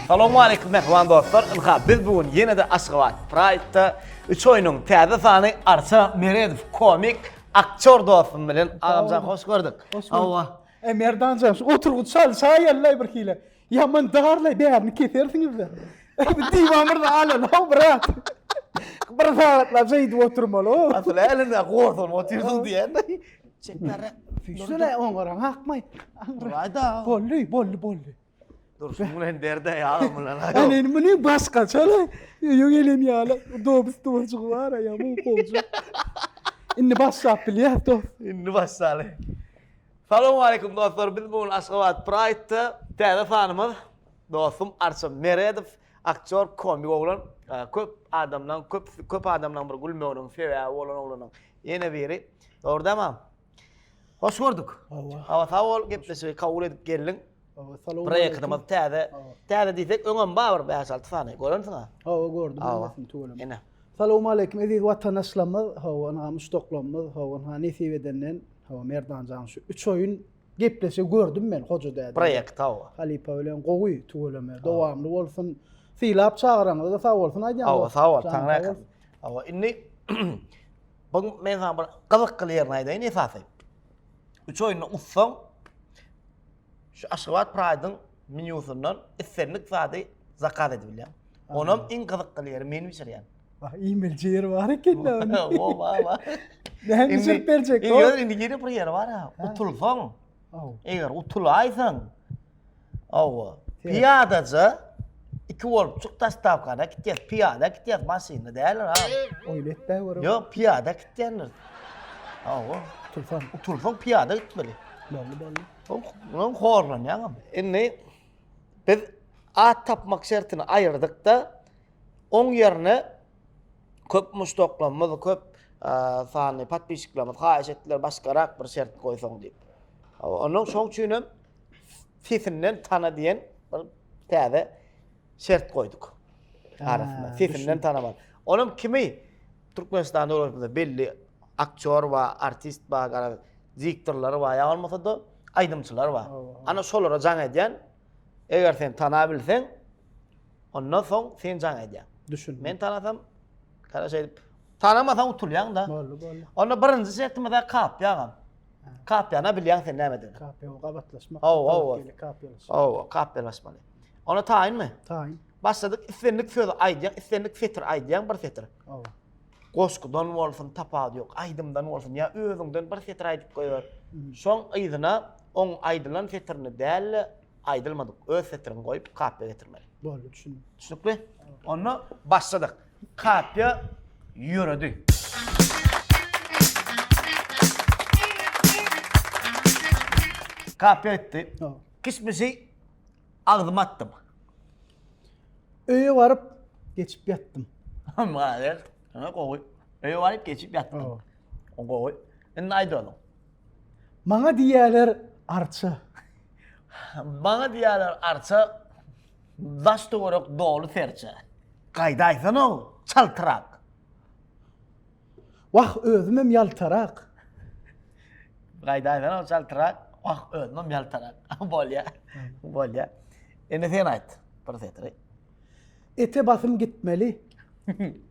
Salowmaleýkim mähriban dostlar! Ynha, biz bu gün ýene-de Aşgabat Pride-da üç oýnuň täze sany Arça Meredow komik aktýor dostum bilen. Agamjan hoş gördük. Hoş gördük. Hawa. Eý Merdanjan, şu oturgyç çal, çaý ýallaý birhili. Ýaman darlaý bärini kesersiňizde. Bu diwan bir alan ho brat. Bir sagatlap şeýdip oturmaly. Asyl älinde gorsan otyrsyň diýende. Çekdara. Füýşsene oň goran akmaý. Aýda. Bolly, bolly, bolly. Dursun bilen derde ýagym bilen. Ýani indi muny başga çala öýe gelen ýaly dobus dowajygy bar aýa bu gowja. Indi başlap bilýär dos. Indi başlaly. Salowmaleýkum dostlar biz bu gün Aşgabat Pride da täze sanymyz dostum Arçyn Meredow aktýor komik oglan köp adamlaň köp köp adamlaň bir gülmeginiň sebäbi bolan oglanyň ýene biri dogry dämam Hoş gördük. Hawa sag bol gepleşigi kabul edip geldiň. Proýektimiz täze. Täze diýsek öňem bar bir bäş alty sany görensiň ha. Hawa gördüm bilmesin tüweleme. Ine. Salowmaleýkim eziz watandaşlarymyz hawa ynha muşdaklarymyz hawa ynha nesip edenden Hawa Merdan jan şu üç oýun gepleşi gördüm men hoja däde. Proýekt hawa. Halypa bilen gowy tüweleme dowamly bolsun. Sylap çagyraňyza sag bolsun aýdýan. Hawa sag bol taňra äkin. Hawa indi bu men sana bir gyzykly ýerini aýdaýyn esasy. Üç oýunda utsaň şu Aşgabat Pride-yň Menýusyndan islendik zady zakaz edip bilýäň. Onam iň gyzykly ýeri meni bişirýän. Wah, iýmeli ýeri bar eken-de onuň. Wah, wah, wah. Näme bişirip berjek? Indi ýöne indi ýene bir ýeri bar-a. Utulsaň, eger utulaýsaň, hawa, pyýadaja iki bolup çyk dostawkana gitýäs. Pyýada gitýäs, maşynda däldir, ha. Oýly etmä görem. Ýok, pyýada gitýändir. Hawa. Utulsaň. Utulsaň pyýada gitmeli. Boldy, boldy. Ondan horlanýaňam. Indi biz at tapmak şertini aýyrdykda oň ýerine köp muşdaklarymyz, köp sanly podpisçiklerimiz haýyş etdiler başgarak bir şert goýsaň diýip. Onuň şoň üçin hem sesinden tana diýen bir täze şert goýduk. Arasynda sesinden tanaman. Onuň kimi Türkmenistan döwletimizde belli aktýor bar, artist bar, garaz, diktorlar bar, ýa bolmasa-da aýdymçylar bar. Ana şolara jaň edýän, eger sen tanap bilseň, ondan soň sen jaň edýäň. Düşündim. Men tanasam, gara şeýdip, tanamasaň utulýaň-da. Boldy, boldy. Onda birinji şertimiz-ä kapyýa agam. Kapyýana bilýäň sen nämedigini. Kapyýa gabatlaşmak. Hawa, hawa. Kapyýalaşmak. Hawa, kapyýalaşmaly. Onda taýynmy? Taýyn. Başladyk islendik sözi aýdýaň, islendik setir aýdýaň bir setir. Hawa. Goşgudan bolsun, tapawudy ýok, aýdymdan bolsun ýa özüňden bir setir aýdyp goýber. Şoň yzyna oň aýdylan setirini däl-de, aýdylmadyk öz setirini goýup kapiýa getirmeli. Boldy, düşündim. Düşnükli? Onda başladyk. Kapiýa ýöredi. Kapiýa etdi. Hawa. Kişmişi Agzyma atdym. Öýe baryp, geçip ýatdym. Malades. Ýa gowy. Öýe baryp, geçip ýatdym. O gowy. Indi aýt onuň. Maňa diýýärler arça. Maňa diýýärler arça. Daş töwerek doly serçe. Gaýda aýtsana-ow, çaltrak. Wah, özümem ýaltarak. Gaýda aýdan ol çaltyrak. Wah, özümem ýaltarak. Bolýa. Bolýa. Indi sen aýt bir setiri. Ete basym gitmeli.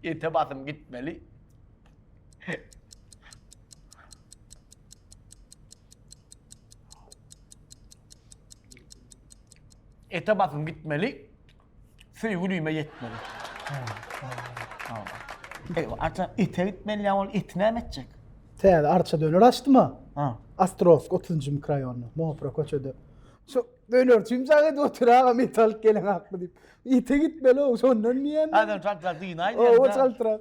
Ete basym gitmeli. Ete basym gitmeli. Söýgi düýme ýetmeli. Eý, arça ete gitmeli ýa ol eti näme etjek? Täze arça döner açdyma. Ha. Astrowsk 30-njy mikroýonda, Mopra köçede. Şu dönerçi imzak edip otur aga metalyk gelen hakmy diýip. Ete gitmeli o, şondan diýen. Adam çaltrak dynaýdy. O çaltrak.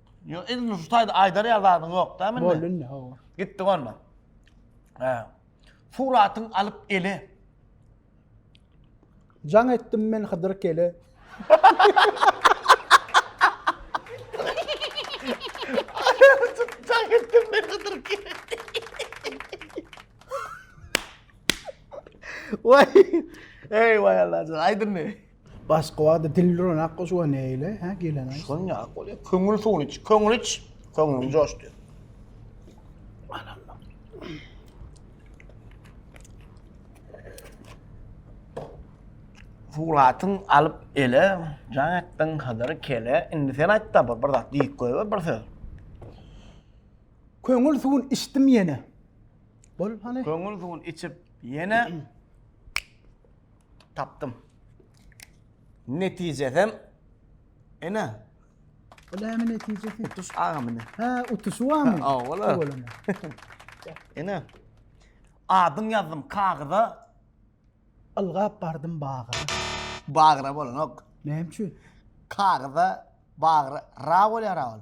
Yo, in şu taýda aýdar ýa zadyň ýok da mende. Boldy indi hawa. Gitdik onda. He. Suratyň alyp eli. Jaň etdim men Hydyr kele. Jaň etdim men Hydyr kele. Vay. Ey vay Allah'ım. Aydın ne? Başga wagtda dil duran akgoş we neyle ha gelen ay. Şun ya akgoş. Köňül suwun iç. Köňül iç. Köňlüm coştu. Fulatyn alyp ele, can ettin hazır kele. Indi sen ayt da bir, bir zat deyip koy bir söz. Köňül suwun içtim yene. Bol hani. Köňül suwun içip yene. Tapdym. Netijesem ene. Bu näme netijesi? Utuş agam ine. Ha, utuşy barmy? Ha, ola. Ene. Adyň ýazdym kagyza. Ylgap bardym bagyra. Bagyra bolanok. Näme üçin? Kagyza bagyra ra bolýar agam.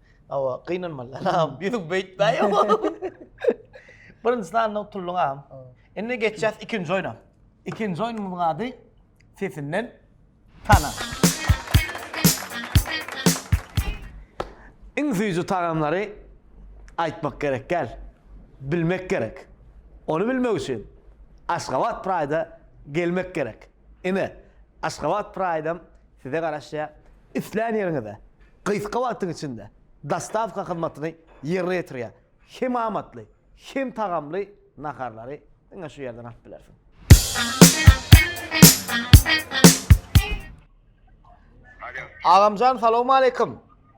Awa, gynanmaly. Anam, ýüzüň beýtmäýe. Birinjisini andan utuldun agam. Indi geçýäs ikinji oýna. Ikinji oýnumyzyň ady Sesinden tana. Iň süýji tagamlary aýtmak gerek däl, bilmek gerek. Ony bilmek üçin Aşgabat Pride-a gelmek gerek. Ine, Aşgabat Praýdam size garaşýar. Islän ýeriňize gysga wagtyň içinde dostawka hyzmatyny ýerine ýetirýär. Hem amatly, hem tagamly naharlary diňe şu ýerden alyp bilersiň. Agamjan salowmaleýkim.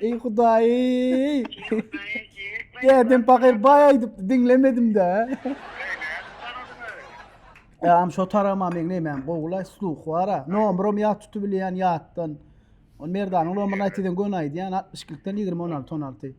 Ey hudaýy. Dädem pakyr baý aýdypdy, diňlemedim-de. Ýam şo tarama meň nämäm gowulaý sluh bara. Nomram ýat tutubilýän ýatdan. Ol Merdanyň nomruna aýt diýseň göni aýdýan 62-den 20 16 16.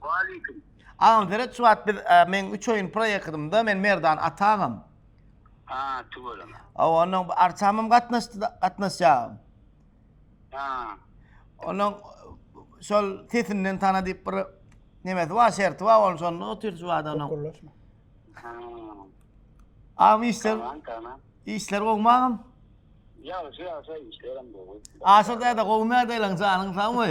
Waleýkim. Agam seret şu wagt biz e, men 3 oýun proýektdimde men Merdan Atagam. Ha, tüweleme. Aw onuň arçamym gatnaşdy da- gatnaşýagam. Ha. Onuň şol sesinden tana diýip bir nemesi bar, şerti bar, ol şonda otyr şu wagt onuň. Gurlaşma. Ha. Agam işler, Tamam, tamam. işler gowmy agam? Ýagşy ýagşy işlerim gowy. Aşyr däde gowy nädeýleň janyň sagmy?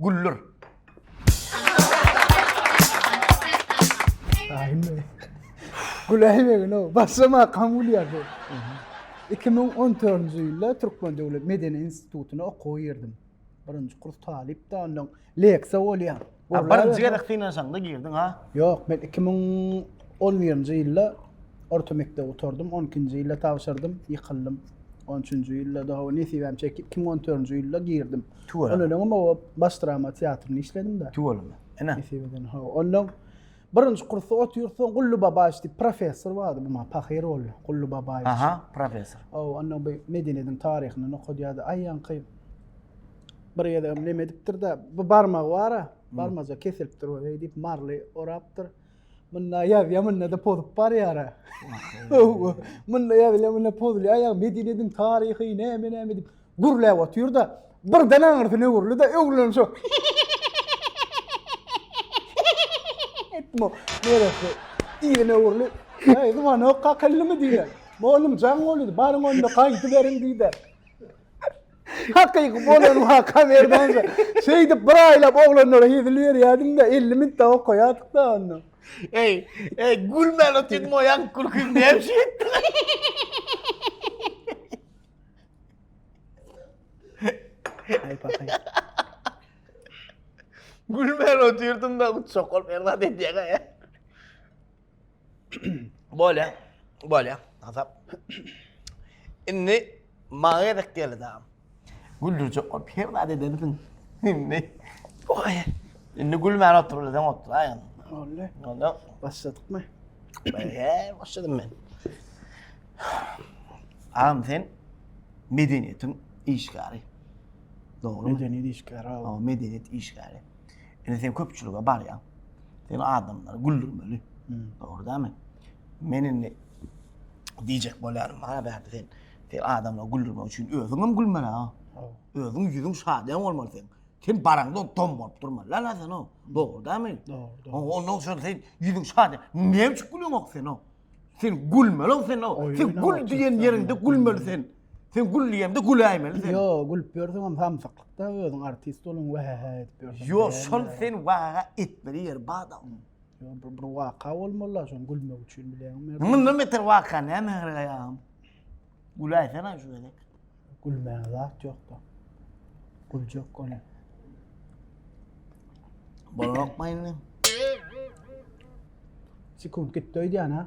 Güller. Aýme. Güläýmegin o. Başlama kam gülýär bu. 2014-nji ýylda Türkmen döwlet medeni institutyna okuwa girdim. Birinji kurs talyp da ondan leksiýa bolýar. Birinji gezek synanyşaňda girdiň ha? Ýok, men 2011-nji ýylda orta mekdep oturdym, 12-nji ýylda tabşyrdym, ýykyldym. 13-nji ýylda da hawa nesibäm çekip 2014-nji ýylda girdim. Tüweleme. Ondan öňem o baş drama teatrynda işledim-de. Tüweleme. Ene. Nesip eden, hawa. Ondan birinji kursda otyr, soň Gully Babaýew diýip professor bardy, bu maňa pahyr boldy. Gully Babaýew. Aha, professor. Hawa, ondan bu medeniýetiň taryhyndan okadýardy. Aýaňky bir gezegem neme edipdir-de, bu barmagy bar-a, barmajyk kesilipdir bu, heý diýip, marly orapdyr. Munda ýaz, ýa munda-da pozup barýara. Munda ýaz, ýa munda pozulýar, ýa Medinediň taryhy, näme-näme diýip gürläp otyr-da, birden aňyrsyna öwrüldi-de, öwrülen şu. Etmo, neresi? Ýerine öwrüli. Ýa, ýa, ýa, kakyllymy diýdi. Molum, jaň bolýar, baryň onda gaýdy beriň diýdi. Hakyky bolany waka Merdan-da. Şeýdip bir aýlap oglanlara hezil berýärdim-de, elli minut-da okaýardyk-da onda. Eý, eý, gülmän otyrdyň, o ýaňky gülkiň näme şeýtdi? Gülmän otyrdym-da, uçjak bolup Merdan edýäň-ä. Bolýa, bolýa, hasap. Indi maňa gezek geldi dagam. Güldürjek bolup her zat edersiň. Indi. Oý. Indi gülmän otur bileseň otur aý. Olly. Onda başladykmy? Bäge başladym men. Agam sen medeniýetiň işgäri. Dogry. Medeniýet işgäri. O medeniýet işgäri. Indi sen köpçülige barýaň. Sen adamlary güldürmeli. Dogry dämi? Men indi diýjek bolýarym, ha bärde sen sen adamlary güldürmek üçin özüň hem gülmeli ha. Özüň ýüzüň şadyýan bolmaly sen. Sen baraňda dom bolup durmaly la sen o. Dogry dämi? Dogry. Ondan soň sen ýüzüň şady. Näme üçin gülüňok sen o? Sen gülmeli sen o. Sen gül diýen ýeriňde gülmeli sen. Sen gül diýemde güläýmeli sen. Yo, gülüp ýörseňem samsyklykda özüň artist boluň we he he edip ýörseň. Yo, şol sen waga etmeli ýer bada. Yo, bir, bir waka bolmaly, şoň gülmek üçin bileňmi? Mundan beter waka näme gerek aýagym? Güläýsene şu gezek. Gülmäge zat ýokda. Güljek gone. Bolmakmy indi? Sekunt gitdi öýdýän ha.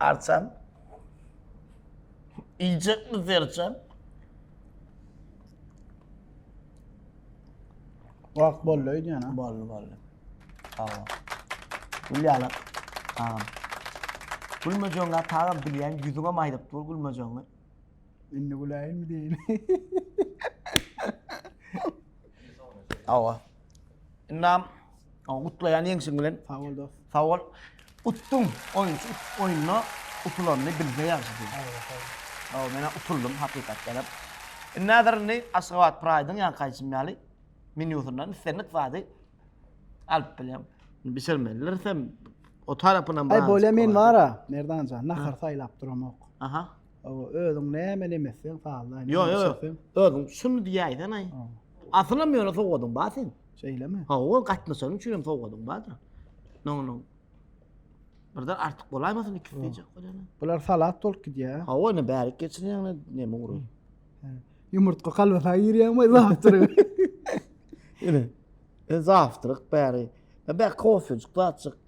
Arçam. Iýjek mi serçem? Wak boldy öýdýän ha. Boldy boldy. Sag ol. Gülýäler. Agam. Gülmejeňä tagam bilýän ýüzüňe maýyp dur gülmejeňi. Indi güläýinmi diýeli. Awa. Ynam, gutlaýan ýeňşiň bilen. Sag bol dos. Sag bol. Utdum. Oýunçy oýunda utulanny bilse ýagşy diýip. Sag bol, sag bol. Sag bol, men-ä utuldym hakykatdan hem. Indi häzir indi Aşgabat Pride-yň ýanky aýtşym ýaly menýusyndan islendik zady alyp bilýän. Bişirmelidiris hem o tarapynam. Aý bolýa men bar-a Merdan jan nahar saýlap duramok. Aha. Hawa, özüň nämeni emizseň, sazlaýyn. Ýok, ýok, ýok. Özüň şuny diýäýseň-aý. Asylam ýöne sowgadyň bar sen. Şeýlemi? Hawa, gatnaşan üçin hem sowgadyň bardyr. Noňuň. Birden artyk bolaýmasyn ikisi diýjek bolýan. Bular salat bolup gidýär. Hawa, ine bärik geçirýäňle näme urup. Ýumurtga kalbasa girýäňmi zawtry? Ine. E zawtryk bäri. E bä kofejik, zatjyk.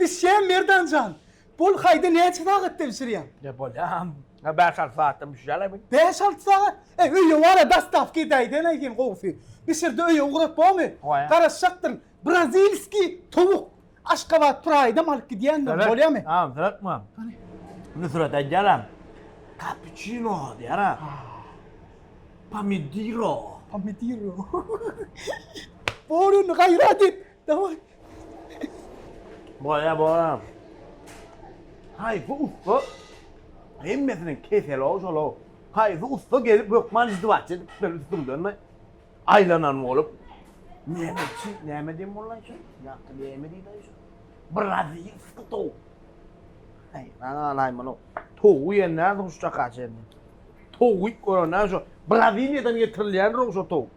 Bişýän Merdan jan. Bol haýda näçe sagatda bişirýäň. Ne bolýam. Ýa bäş alty sagatda bişýäle bi. Bäş alty sagat? Eý öýe bar-a dostawka edäýdäýnä sen gowusy. Bişirde öýe ugrat bomy? Oýe. Garaşjakdyryn. Brazilskiý towuk. Aşgabat Pride-am alyp gidýändirin. Bolýamy? Tamam syratma. Hany. Nusrat aýdýaram. Kapuçino diýýär-a. Pomidiro. Pomidiro. Bor indi gaýrat et. Dawaý. Boýa boýa. Haýsy ussa hemmesiniň keseli-ow şol-ow. Haýsy ussa gelip hökman izdiwaç edip şol üstüňden-de aýlanan bolup. Näme üçin, näme diýen boldy-aý şol? Ýagty näme diýdi-aý şol? Brazilskiý towuk. Aý, nalalaý muny. Towuk iýen nädip şuşaka çenli. Towuk iýip gören näme şo? Braziliýadan getirilýändir-ow şo towuk.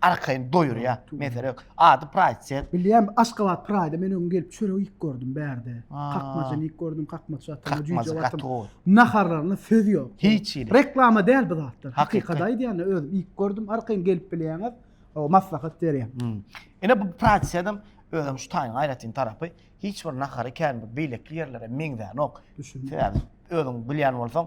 Arkaýyn doýurýar. Mesele ýok. Ady Pride sen. Bilýän, Aşgabat Pride men öň gelip çörek iýip gördüm bärde. Kakmajyny iýip gördüm, kakmaç atym, jüýje atym. Naharlaryna söz ýok. Hiç hili. Reklama däl bu zatlar. Hakykat aýdýan özüm iýip gördüm. Arkaýyn gelip bilýäňiz. O maslahat berýän. Ine bu Pride sedem özem şu taýyň aýratyn tarapy hiç bir nahary kän beýleki ýerlere meňzänok. Düşündim. Sebäbi özüň bilýän bolsaň,